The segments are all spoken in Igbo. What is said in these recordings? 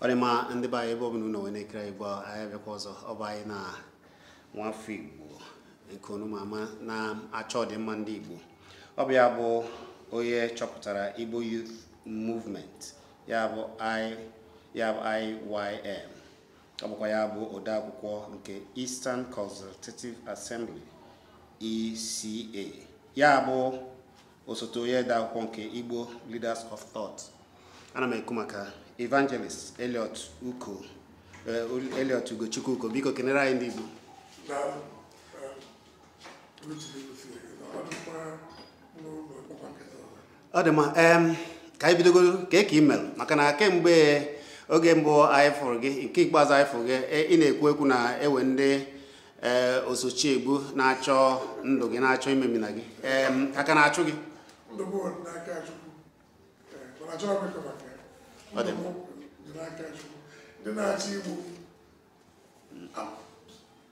ọ dị mma ndị be anyị ebe ọbụla unu nọ wee na-ekiri anyị bụ anyị abịakwa ọzọ ọ bụ anyị na nwafọ igbo nke unu ma ama na-achọ ọdịmma ndị igbo ọ bụ ya bụ onye chọpụtara igbo youth movement ya bụ IYM ọ bụkwa ya bụ odeakwụkwọ nke Eastern Consultative Assembly ECA ya bụ osote onye odeakwụkwọ nke Igbo Leaders of Thought ana m ekwu maka Evangelist Elliot Ugochukwu Uko biko kenere anyị ndị Igbo ọ dị mma ka anyị bidogodu kee ka i melu maka na kemgbe oge mbụ anyị fụrụ gị nke ikpeazụ anyị fụrụ gị e, ị na-ekwu ekwu na e nwe ndị e, ọsọchi egbu na-achọ ndụ gị na-achọ imemina gị a ka na-achụ gị ọ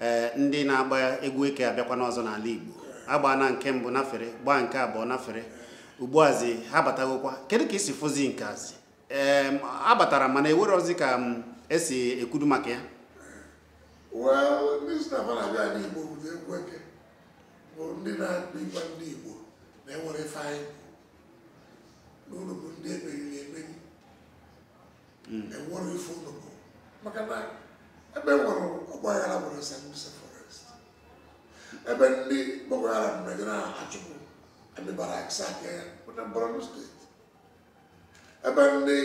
ee eh, ndị na-agba egwu eke abịakwana ọzọ n'ala Igbo agbaana nke mbụ nafere gbaa nke abụọ nafere ugbuazi ha batagokwa kedu ka i si fụzi nke a zi ee eh, abatara mana enwerozi ka m mm, esi ekwudu maka ya well ndị sị fa na-abịa ala Igbo bụ egwu eke bụ ndị na-akpa ịgwa ndị Igbo na enwero ife anyị bụ na unu bụ ndị emeriri emeri hmm. enwero ife unu bụ maka na ebe e nwere ọgbaghara bụ na sambisa forest ebe ndị Boko Haram mere na-achụpụ army barracks sack ya bụ na Borno steeti ebe ndị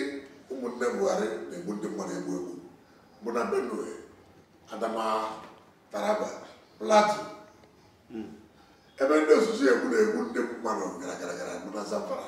ụmụnne Buhari na-egbu ndị mmadụ egbu egbu bụ na Benue Adamawa Taraba Plateau hmm. ebe ndị ọsọchi egbu na-egbu ndị mmadụ gara gara gara bụ na Zamfara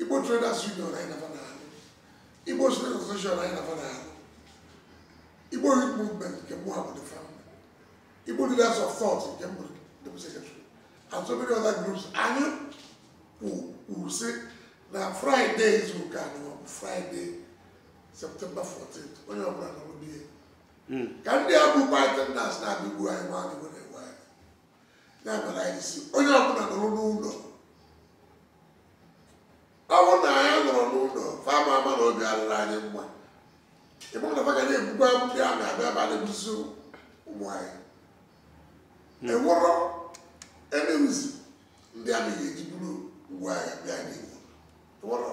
Igbo Traders Union anyị na fa na-alụ Igbo Student Association anyị na fa na-alụ Igbo Youth Movement nke mụwa bụ the founder Igbo Leaders of Thought nke m bụ the secretary and so many other groups anyị kwuru sị na Fraịde izu ụka anyị bụ Fraịde Septemba 14 onye ọbụla nọrọ na be ya ka ndị a bụ Python na-abịa igbu anyị ma anyị nwere ya mere anyị sị onye ọbụla nọrọ n'ụlọ ọ bụrụ na anyị nọrọ n'ụlọ fa ama ama na obi adịrọ anyị mma ịbụ na fa ga na-ebukwa ndị a na-abịa ebe a na-egbusi ụmụ anyị enwero any reason ndị a na-eji buru ngwa agha bịa n'Igbo enwero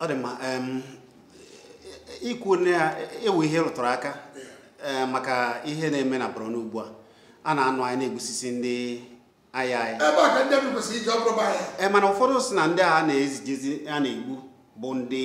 ọ dị mma ikwu na ya ewu ihe rụtụrụ aka maka ihe na-eme na Borno ugbu a a na-anụ anyị na-egbusisi ndị agha anyị ebe a ka ndị amị kwesịrị iji ọ bụrụ bụ anyị ee mana ụfọdụ sị na ndị a na-ezijezi a na-egbu bụ ndị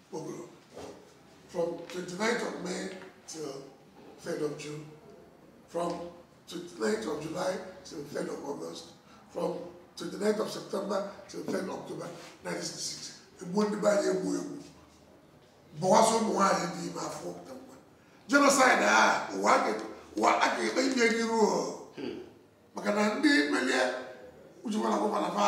Pogrom, from 29th of May till 3rd of June, from 29th of July till 3rd of August, from 29th of September till 3rd of October 1966. Egbuo ndị be anyị egbu egbu. Bọwasị ụmụ nwaanyị dị ime afọ pụta nwa. Genocide a ụwa ga- ụwa a ga-ekpe ikpe gị ruo. Maka na ndị melie ujikwara gọvanọ fa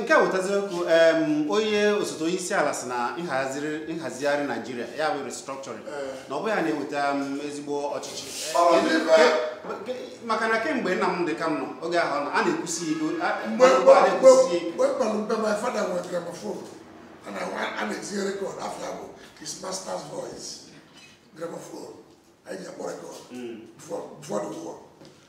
nke a wetaziri okwu onye osote onye isi ala sị na nhazigharị naijiria ya bụ restructuring na ọ bụ ya na-eweta ezigbo ọchịchị maka na kemgbe nna m dị ka m nọ oge ahụ a na-ekwusi igo mgbe kpalụ mbe my father nwere gramophone a na-etinye record afa ya bụ his master's voice gramophone anyị ji akpọ record before the war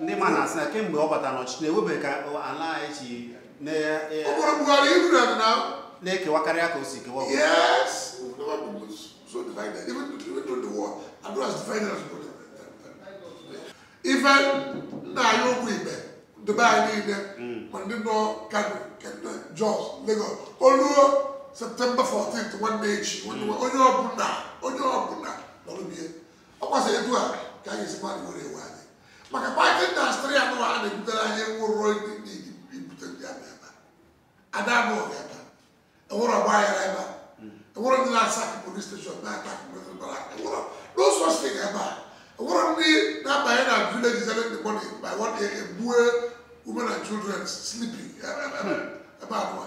ndị ma na-asị na kemgbe ọ batara n'ọchịchị na enwebeghị ka ala anyị si na-ekewa karịa ka o si kewa ife m na-ayọ bụ ndị be anyị niile hmm. ma ndị nọ kano kene jos lagos o luo september 14 nwanne echi hmm. onye ọbụla onye ọbụla nọrọ be ya ọ kwasịrị etu a ka anyị si mmadụ nwere iwe anyị maka python dance three anụ a na-ebutere anyị nwụrụ ndị ibute ndị a ebe a da-anụ ọgụ ebe enwerọ ọgba aghara ebe enwerọ ndị na-asack police station na-attack police barrack enwere n'ụzọ si ga ebe a enwerọ ndị na-abanye na villages early in the morning by one day egbue women and children sleeping ebe anụwa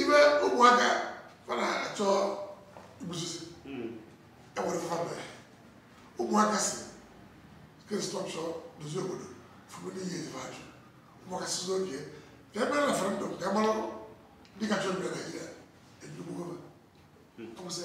ife ụmụaka fa na-achọ igbusisi enwere fana ụmụaka sị ka e restructure dozie obodo for many years fa ajụ ụmụaka sị okay ka e mee referendum ka e mara ndị ka chọ ibi na naijiria enyigbu gọọmenti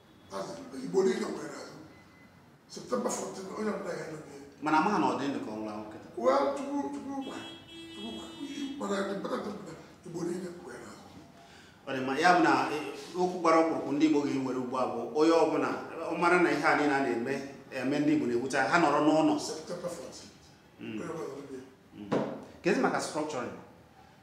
mana amaghị ma ọ dị ndụ ka ọ nwụrụ anwụ kịta ọ dị ma ya bụ na e, okwu gbara ọkpụrụkpụ ndị Igbo ga-ewere ugbu a bụ onye ọbụla ọ mara na ihe a niile a na-eme eme ndị Igbo na-ewute ha nọrọ n'ụlọ hmm. Hmm. kezi maka structuring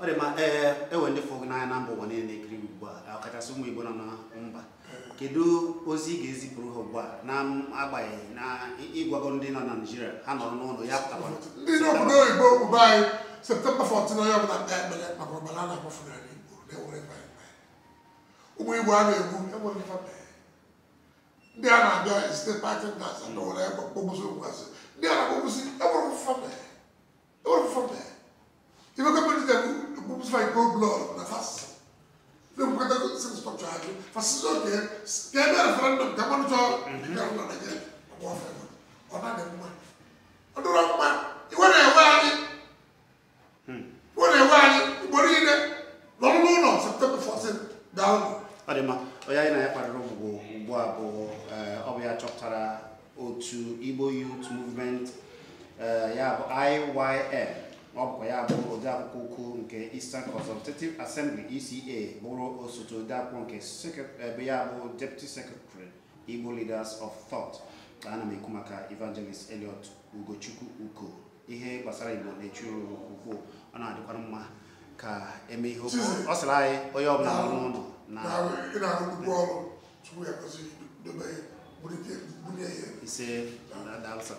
ọ dị mma ee enwere ndị fụ gị n'anya na mba ụwa niile na-ekiri gị ugbu a ọkachasị ụmụ Igbo nọ na mba kedu ozi ị ga-ezipụrụ ha ugbu a na-agbanyeghị na ị gwago ndị nọ na Naịjirịa ha nọrọ n'ụlọ ya pụtakwa ndị n'obodo oyibo obodo anyị septemba 14 onye ọbụla kpee ekpere maka ọbara na-agbafu n'ala Igbo na-enwere ụmụ Igbo a na-egbu enwere ndị a na-abịa site pati ndị asa na ụlọ ebe kpọgbụsị ụkwasị ndị a na-akpọgbụsị enwere ife fa mee enwere ife fa mee ife gọọmenti ji ekwu kpọgbụsị fa in cold blood na fa sị ndị nkwekọta sị restructure ha jụ fa sị sị okay ka e mee referendum ka mmadụ chọọ ndị ọrụ na Naịjirịa ọgbọ ọfere ọ na-adị mma ọ dịrọ mma iwe na-ewe anyị iwe na-ewe anyị igbo niile nọrọ n'ụlọ septemba 14 daalụ ọ dị mma onye anyị na ya kparịrị ụbụbọ ugbu a bụ eh, ọ bụ ya chọpụtara otu igbo youth movement eh, ya bụ IYM ọ bụkwa ya bụ odeakwụkwọ ukwu nke Eastern Consultative Assembly ECA bụrụ osote odeakwụkwọ nke secret- eh, bụ ya bụ deputy secretary Igbo Leaders of Thought ana m ekwu maka Evangelist Elliot Ugochukwu Uko ihe gbasara igbo na-echu ya ụra nke ukwu ọ na-adịkwara mma ka e mee ihe o kwu ọ sịrị anyị onye ọbụla nọ n'ụlọ na ị na-arụ nnukwu ọrụ tupu ya kwesị dobe ya bunye ya ise na daalụ sir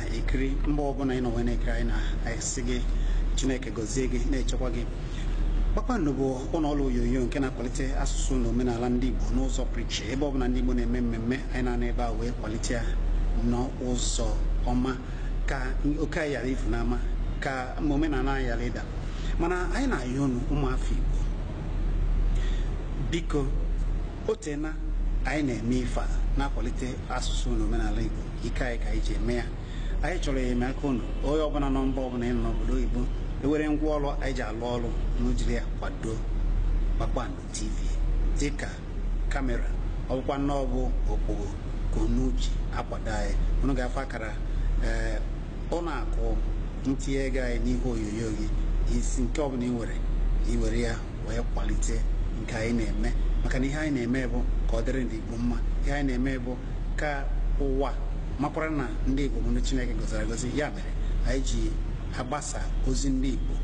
ekiri mgbe ọbụla ị nọ wee na-ekiri anyị na-asị gị chineke gọzie gị na-echekwa gị kpakpando bụ ụlọ ọrụ onyonyo nke na-akwalite asụsụ na omenala ndị igbo n'ụzọ pụrụ iche ebe ọbụla ndị igbo na-eme mmemme anyị na-anọ ebe a wee kwalite ya n'ụzọ ọma ka oke anyị ghara ifu n'ama ka omenala anyị ghara ịda mana anyị na-ayọ unu ụmụafọ igbo biko o teena anyị na-eme ife a na-akwalite asụsụ na omenala Igbo ike anyị ka anyị ji eme ya anyị chọrọ enyemaka unu onye ọbụla nọ mba ọbụla ị nọ n'obodo oyibo enwere ngwa ọrụ anyị ji alụ ọrụ unu jiri ya kwado Kpakpando TV dịka kamera ọ bụkwanụ na ọ bụ okpogho ka unu ji akwado anyị unu ga-afụ akara ee ụlọ akụ ntinye ego anyị n'ihe onyonyo gị isi nke ọbụla ị nwere ị were ya wee kwalite nke anyị na-eme maka na ihe anyị na-eme bụ ka ọ dịrị ndị Igbo mma ihe anyị na-eme bụ ka ụwa makwara na ndị Igbo bụ ndị Chineke gọziri agọzi ya mere anyị ji agbasa ozi ndị Igbo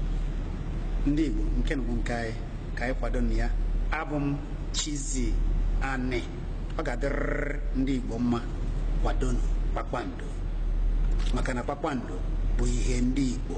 ndị Igbo nke unu bụ nke anyị ka anyị kwadonụ ya abụ m Chizzy Ani ọ ga-adịrịrị ndị Igbo mma kwadonu kpakpando maka na kpakpando bụ ihe ndị Igbo